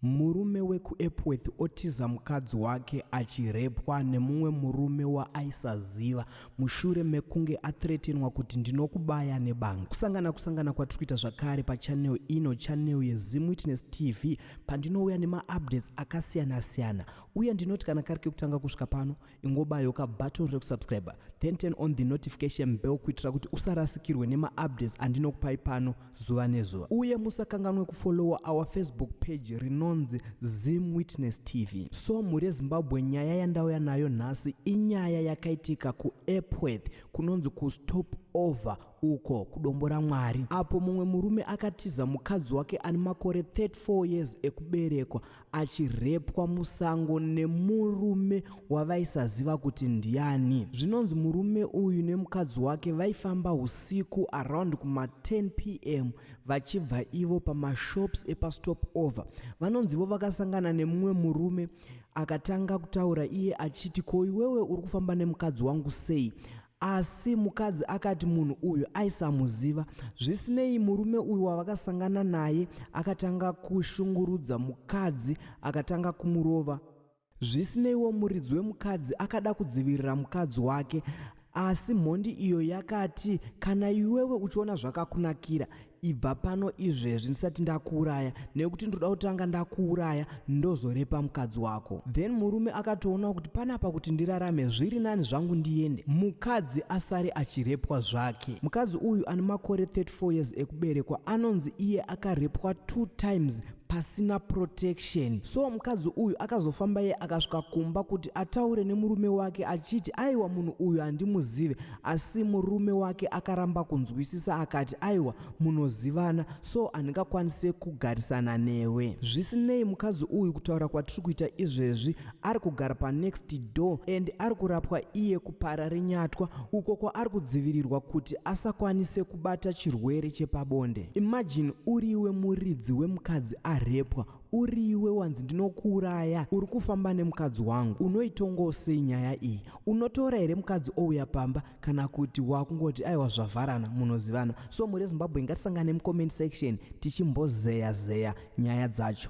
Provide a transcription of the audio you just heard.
Murume wekuEpworth otiza mukadzi wake achirepwa nemumwe murume waaisaziva mushure mekunge athretenwa kuti ndinokubaya nebanga. Kusangana kusangana kwatiri kuita zvakare pachanel ino chanel yeZimWitness TV pandinouya nemaupdates akasiyana-siyana uye ndinoti kana kari kekutanga kusvika pano ingobayo ka button rekusubscriber then turn on the notification bell kuitira kuti usarasikirwe nemaupdates andinokupai pano zuva nezuva uye musakanganwe kufollowa our facebook page rinonzi zim witness tv so mhuri yezimbabwe nyaya yandauya nayo nhasi inyaya yakaitika kuepworth kunonzi kustop over uko kudombo ramwari apo mumwe murume akatiza mukadzi wake ane makore 34 years ekuberekwa achirepwa musango nemurume wavaisaziva kuti ndiani zvinonzi murume uyu nemukadzi wake vaifamba usiku around kuma10 pm vachibva ivo pamashops epastop over vanonzi ivo vakasangana nemumwe murume akatanga kutaura iye achiti ko iwewe uri kufamba nemukadzi wangu sei Asi mukadzi akati munhu uyu aisamuziva. Zvisinei, murume uyu wavakasangana naye akatanga kushungurudza mukadzi akatanga kumurova. Zvisineiwo, muridzi wemukadzi akada kudzivirira mukadzi wake asi mhondi iyo yakati kana iwewe uchiona zvakakunakira ibva pano izvezvi ndisati ndakuuraya nekuti ndoda kutanga ndakuuraya ndozorepa mukadzi wako then murume akatoona kuti panapa kuti ndirarame zviri nani zvangu ndiende mukadzi asare achirepwa zvake mukadzi uyu ane makore 34 years ekuberekwa anonzi iye akarepwa two times pasina protection so mukadzi uyu akazofamba ye akasvika kumba kuti ataure nemurume wake achiti aiwa munhu uyu handimuzive Asi murume wake akaramba kunzwisisa akati aiwa munozivana so handingakwanise kugarisana newe. Zvisinei mukadzi uyu kutaura kwatiri kuita izvezvi ari kugara panext door and ari kurapwa iye kupara renyatwa uko kwaari kudzivirirwa kuti asakwanise kubata chirwere chepabonde. Imagine uriwe muridzi wemukadzi arepwa Uriwe wanzi ndinokuuraya uri kufamba nemukadzi wangu unoitongawo sei nyaya iyi unotora here mukadzi ouya pamba kana kuti wakungoti aiwa zvavharana munozivana so muri zimbabwe ngatisangane mucomment section tichimbozeya zeya nyaya dzacho